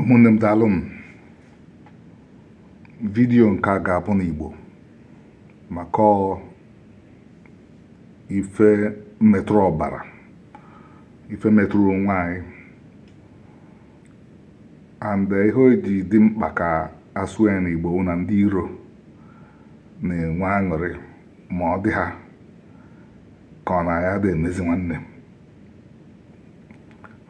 ụmụnne m daalụnụ vidiyo nke a ga-abụ n'Igbo maka ife metụrụ ọbara ife metụrụ onwe anyị and eh, ihe o ji dị mkpa ka a sụọ ya n'Igbo bụ na ndị iro na-enwe aṅụrị ma ọ dị ha ka ọ na aya dị ime ezi nwanne m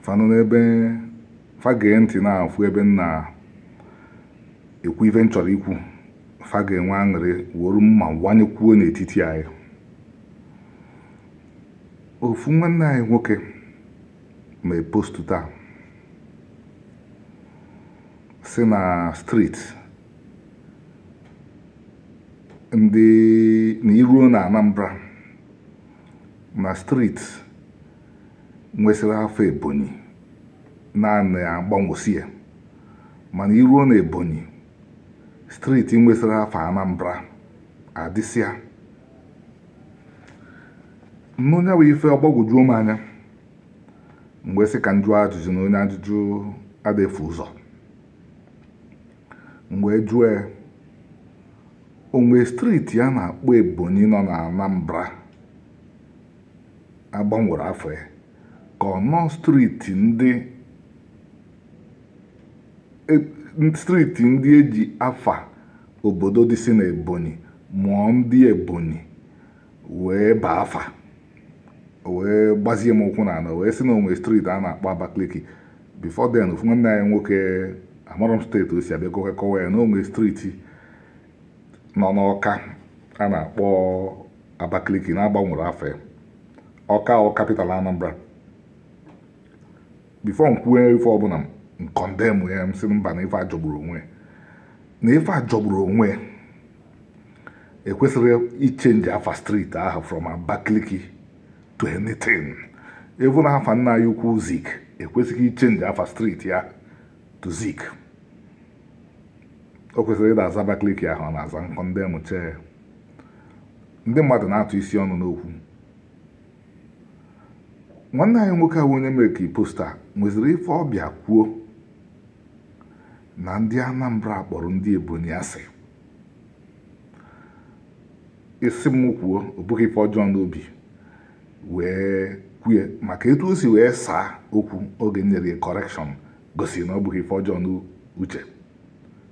fa nọ n'ebe fa gee ntị na-afụ ebe m na-ekwu ife m chọrọ ikwu fa ga-enwe aṅụrị were mma wanyekwuo n'etiti anyị ofu nwanne anyị nwoke mee postu taa sị na streeti ndị na i ruo na Anambra na streeti nwesịrị afa Ebonyi na a na-agbanwesi ya mana i ruo na Ebonyi streeti nwesịrị afa Anambra adịsịa nnọọ nya bụ ife ọ gbagwojuo m anya m wee sị ka m jụọ ajụjụ na onye ajụjụ ada efu ụzọ M wee jụọ ya, O nwere streeti a na-akpọ Ebonyi nọ na Anambra a gbanwere afa ya ka ọ nọ streeti ndị e, streeti ndị e ji afa obodo dịsị na Ebonyi ma ọ ndị Ebonyi wee baa afa o wee gbazie m ụkwụ n'ana wee sị na o nwe streeti a na-akpọ Abakaliki before then ofu nwanne anyị nwoke amarọ m steeti o si abịa kọwa ya na o nwe streeti nọ n'Ọka a na-akpọ Abakaliki na a gbanwere afa ya Ọka ọ capital Anambra before m kwue ife ọbụna m kọndemụ ya m sị mba na ife a jọgburu onwe ya na ife a jọgburu onwe ya ekwesịrọ ichenji afa streeti ahụ from Abakaliki to anything even afa nna anyị ukwu Zik ekwesịghị ichenji afa streeti ya to Zik o kwesịrị ịda aza Abakaliki ahụ ọ na-aza m kọndemụcha ya ndị mmadụ na-atụsị ọnụ n'okwu nwanne anyị nwoke ahụ onye mekiri post a nweziri ife ọ bịa kwuo na ndị Anambra kpọrọ ndị Ebonyi asị ị sị m kwuo o bughị ife ọjọọ n'obi wee kwue maka etu o si wee saa okwu oge m nyere ya correction gosiri na o bughị ife ọjọọ n'uche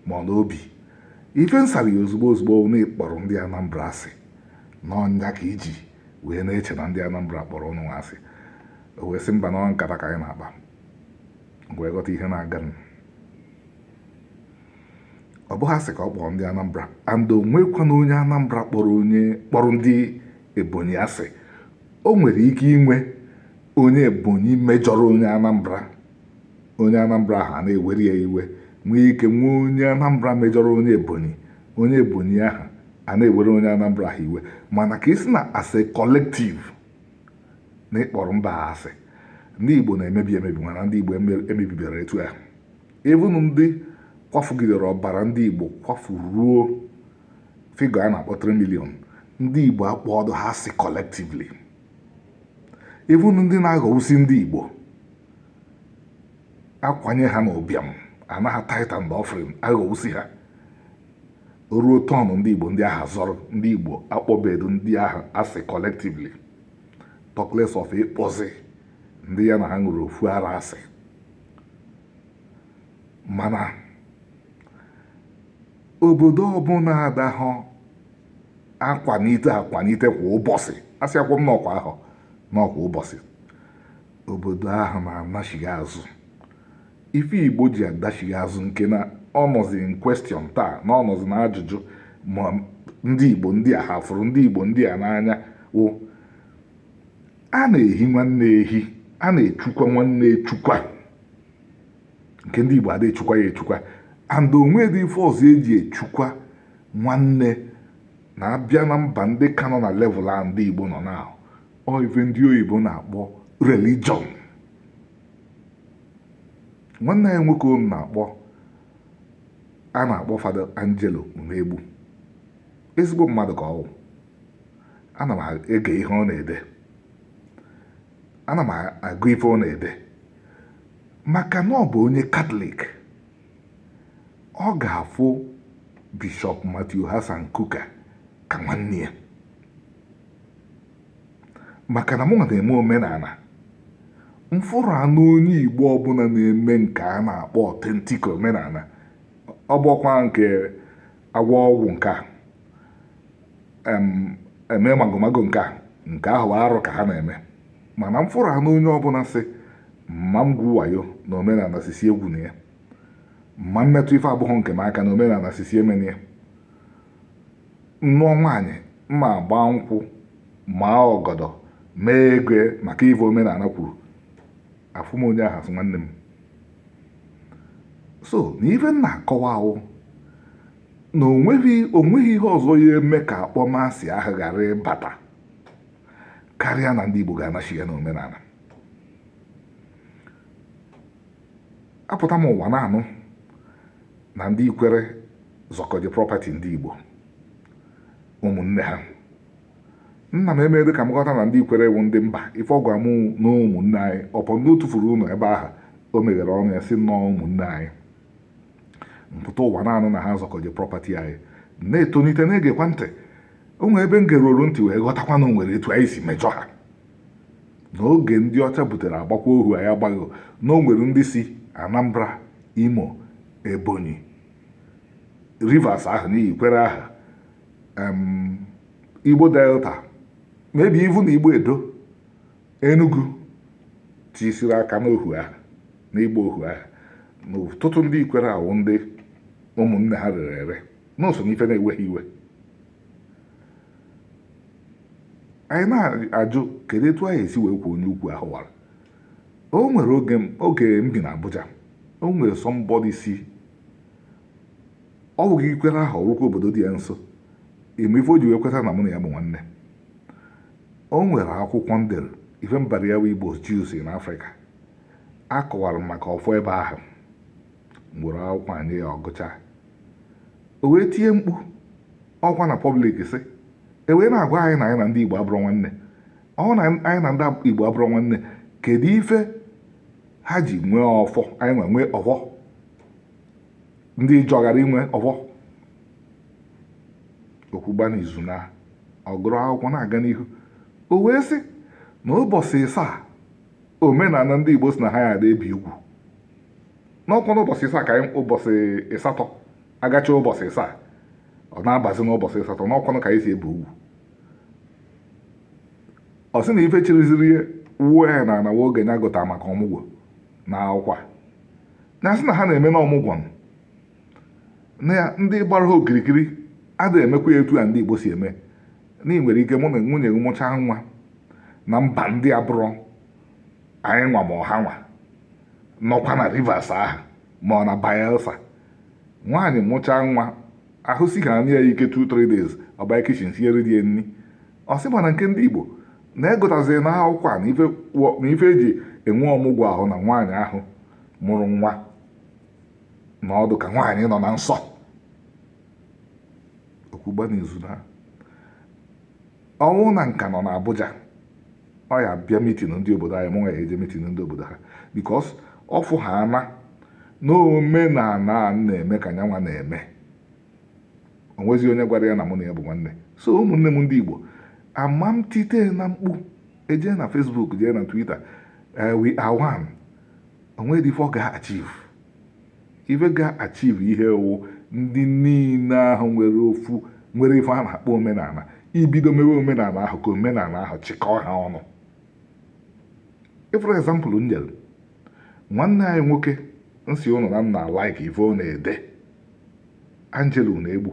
ma ọ n'obi ife m sara ya ozugbo ozugbo ọ na ị kpọrọ ndị Anambra asị na ọ nya ka i ji wee na-eche na ndị Anambra kpọrọ ụnụ nwa asị o wee sị mba na nkata ka anyị na-akpa wee ghọta ihe na-aganụ ọ bụghị asị ka ọ kpọrọ ndị Anambra and o nwekwana onye Anambra kpọrọ ndị Ebonyi asị o nwere ike inwe onye Ebonyi mejọrọ onye Anambra onye Anambra ahụ a na-ewere ya iwe nwee ike nwee onye Anambra mejọrọ onye Ebonyi onye Ebonyi ahụ a na-ewere onye Anambra ahụ iwe mana ka ị sị na as a collective na ịkpọrọ mba ha asị ndị Igbo na-emebi emebi mana ndị Igbo emebibere etu ahụ even ndị kwafugidere ọbara ndị Igbo kwafu ruo figure a na-akpọ 3 million ndị Igbo akpọọdụ ha asị collectively even ndị na-aghọwusi ndị Igbo akwanye ha n'ụbịam ana ha tithe and offering aghọwusi ha o ruo turn ndị Igbo ndị ahụ zọrọ ndị Igbo akpọbedu ndị ahụ asị collectively talk less of ịkpọzi ndị ya na ha ṅụrụ ofu ara asị mana obodo ọbụla adahụ akwanite akwanite kwa ụbọchị asị akwụ m n'ọkwa ahụ na ọ kwa ụbọchị obodo ahụ na-anachigha azụ ife igbo ji adachigha azụ nke na ọ nọzi in question taa na ọ nọzi na ajụjụ ma ndị igbo ndị a ha fụrụ ndị igbo ndị a n'anya wụ a na-ehi nwanne ehi a na-echukwa nwanne echukwa nke ndị igbo ada echukwa ya echukwa and o nwedụ ife ọzọ e ji echukwa nwanne na a bịa na mba ndị ka nọ na level a ndị igbo nọ na ọ ife ndị oyibo na-akpọ religion nwanne anyị nwoke unu na-akpọ a na-akpọ Fada Angelo Unegbu ezigbo mmadụ ka ọwụ ana m ege ihe ọ na-ede ana m agụ ife ọ na-ede maka na ọ bụ onye katọlik ọ ga-afụ bishọp Matthew Hassan Kukah ka nwanne ya maka na mụwa na-eme omenala m fụrụ anụ onye igbo ọbụla na-eme nke a na-akpọ authentic omenala ọ bụọkwa nke agwọ ọgwụ nke a eme magomago nke a nke ahụ arụ ka ha na-eme mana m fụrụ anụ onye ọbụla sị mma m gwu wayo na omenala sị sị egwuna ya mma m metụ ife abụghị nke m aka na omenala sị sị emena ya Nụọ nwaanyị m agbaa nkwụ maa ọgọdọ mee ego ya maka ife omenala kwuru afụ m onye ahụ sị nwanne m so na ife m na-akọwa wụ na o nweghị ihe ọzọ ya-eme ka akpọmasị ahụ ghara ịbata karịa na ndị Igbo ga-anachigha n'omenala apụta m ụwa na-anụ na ndị Ikwere zọkọji property ndị Igbo ụmụnne ha nna m emeghị ka m ghọta na ndị Ikwere wụ ndị mba ife ọ gwa m na ụmụnne anyị ọpọ ndị o tufuru ụlọ ebe ahụ o meghere ọnụ ya sị nnọọ ụmụnne anyị m pụta ụwa na-anụ na ha zọkọji property anyị na-etolite na-egekwa ntị o nwere ebe m geruoru ntị wee ghọtakwa na o nwere etu anyị si mejọ ha n'oge ndị ọcha butere agbakwa ohu anyị agbaghị na o nwere ndị si Anambra Imo, Ebonyi, Rivers ahụ na Ikwere ahụ Igbo Delta maybe even Igbo Edo Enugu tiisiri aka n'ohu ahụ n'ịgba ohu ahụ na ọtụtụ ndị Ikwere a wụ ndị ụmụnne ha rere ere na o so n'ife na-ewe ha iwe anyị na-ajụ kedu etu a ya-esi wee kwuo onye ukwu ahụ wara O nwere oge m bi n'Abuja o nwere somebody si ọ bụghị Ikwere ahụ ọ wụkwa obodo dị ya nso ị ma ife o ji wee kweta na mụ na ya bụ nwanne o nwere akwụkwọ m dere ife m bara ya bụ Igbo Jews in Africa akọwara m maka ọfọ ebe ahụ m were akwụkwọ nye ya ọ gụchaa o wee tie mkpu ọ wụkwa na public sị e wee na-agwa anyị na anyị na ndị Igbo abụrọ nwanne ọ bụrụ na anyị na ndị Igbo abụrọ nwanne kedu ife ha ji nwee ọfọ anyị wee nwee ọfọ ndị Ịjọ ghara inwe ọfọ okwugba n'izu na ọ gụrụ akwụkwọ na-aga n'ihu o wee sị na ụbọchị ịsaa omenala ndị Igbo sị na ha ya ada ebi ugwu na ọkwanụ ụbọchị ịsaa ka anyị ụbọchị ịsatọ a gachaa ụbọchị ịsaa ọ na-abazi n'ụbọchị ịsatọ na ọkwanụ ka anyị si ebi ugwu ọ sị na ife chịrịziri ya wuo ya n'ana wụ oge ya gụta maka ọmụgwọ n'akwụkwọ ya sị na ha na-eme na ọmụgwọ na ndị gbara ha okirikiri adịghị emekwa ya etu a ndị Igbo si eme na ị nwere ike mụ na nwunye gị mụchaa nwa na mba ndị abụrọ anyị nwa ma ọ ha nwa nọkwa na Rivers ahụ ma ọ na Bayelsa nwaanyị mụchaa nwa ahụ si ha anya ya ike 2-3 days ọ banye kichin sinyere di ya nri ọ sị mana nke ndị Igbo na a gụtaziri na akwụkwọ a na ife wọ- na ife eji enwe ọmụgwọ ahụ na nwaanyị ahụ mụrụ nwa na ọ dị ka nwaanyị nọ na nsọ okwugba n'izu na ọ wụ na nka nọ n'Abuja ọ ya bịa mitin ndị obodo anyị mụnwa ya eje mitin ndị obodo ha bikos ọ fụ ha ana na omenala m na-eme ka nyanwa na-eme onwezi onye gwara ya na mụ na ya bụ nwanne so ụmụnne m ndị Igbo ama m tite na mkpu eje na Facebook jee na Twitter eh, we are one onweghị ife ọ ga-achieve Ife ga achieve ihe wụ ndị niile ahụ nwere ofu nwere ife a na-akpọ omenala ibido mewe omenala ahụ ka omenala ahụ chịkọọ ha ọnụ ị fụrụ example m nyere nwanne anyị nwoke m sị ụnụ na m na like ife ọ na-ede Angelo Unegbu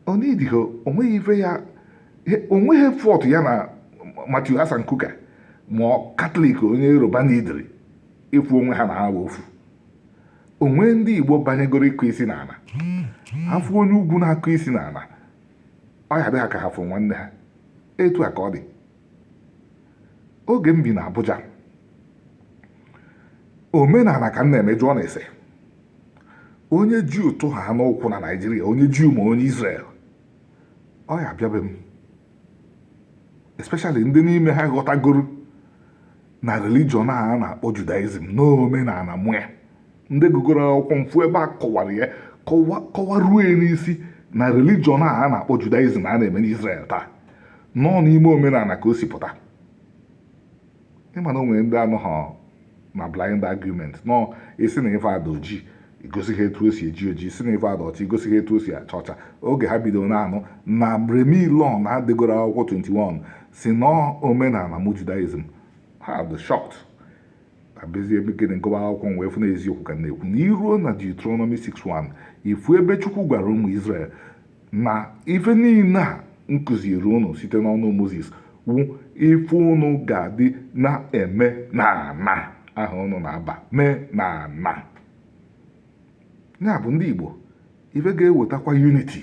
onwedịghị onweghị ife ya onweghị fọtụ ya na Matthew Hassan Kukah ma katọlik onye yoruba na idiri ịfụ onwe ha na ha wụ ofu o nwee ndị igbo banyegoro ịkụ isi n'ala ha fụ onye ugwu na-akụ isi n'ala ọ ya dị ha ka ha fụ nwanne ha etu a ka ọ dị oge m bi na Abuja omenala ka m na-eme jụọ na-ese onye Juu tụ ha n'ụkwụ na Naịjirịa onye Juu ma onye Izrel ọ ya abịabe m especially ndị n'ime ha ghọtagoro na religion a na-akpọ Judaism na omenala mụ ya ndị gụgoro akwụkwọ m fụ ebe a kọwara ya kọwaruo ya n'isi na religion a a na-akpọ judaism a na-eme n'israel taa na ọ n'ime omenala ka o si pụta ị ma na o nwere ndị anọghọ na blind argument nọọ ị sị na ife a dị oji igosi ha etu o si eji oji ị sị na ife a dị ọcha igosi ha etu o si acha ọcha oge ha bidoro na-anụ na Remy Ilona edegoro akwụkwọ 21 sị na ọ omenala mụ judaism ha dị shocked abịazie mee gịnị gụwa akwụkwọ m wee fụ na eziokwu ka m na-ekwu na i ruo na Deuteronomy 6:1 ị fụ ebe Chukwu gwara ụmụ Izrel na ife niile a m kụziri ụnụ site n'ọnụ Mozis wu ife ụnụ ga-adị na-eme na ana ahụ ụnụ na-aba mee na ana ya bụ ndị Igbo ife ga-ewetakwa unity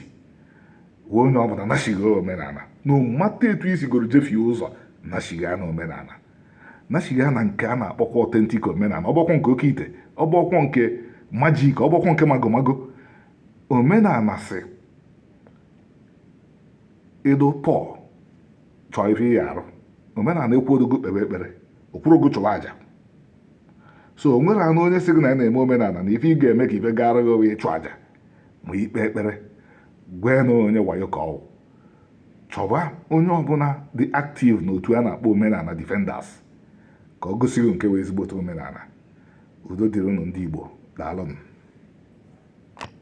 wụ onye ọbụla nashigha omenala na ịmata etu i sigoro jefie ụzọ nashigha na omenala nachigha na nke a na-akpọkwa authentic omenala ọ bụghịkwa nke oke ite ọ bụghịkwa nke magic ọ bụghịkwa nke magomago omenala sị ịdụ pụọ chọọ ife ị ya-arụ omenala ekwurọ gị kpebe ekpere o kwurọ gị chụwa aja so o nwere anụ onye sị gị na ya na-eme omenala na ife ị ga-eme ka ife gara gị wụ ịchụ aja ma ikpe ekpere gwee na onye wayo ka ọ wụ chọba onye ọbụla dị active n'otu a na-akpọ Omenala Defenders ka o gosi gị nke wụ ezigbote omenala udo dịrị unu ndị Igbo daalụnụ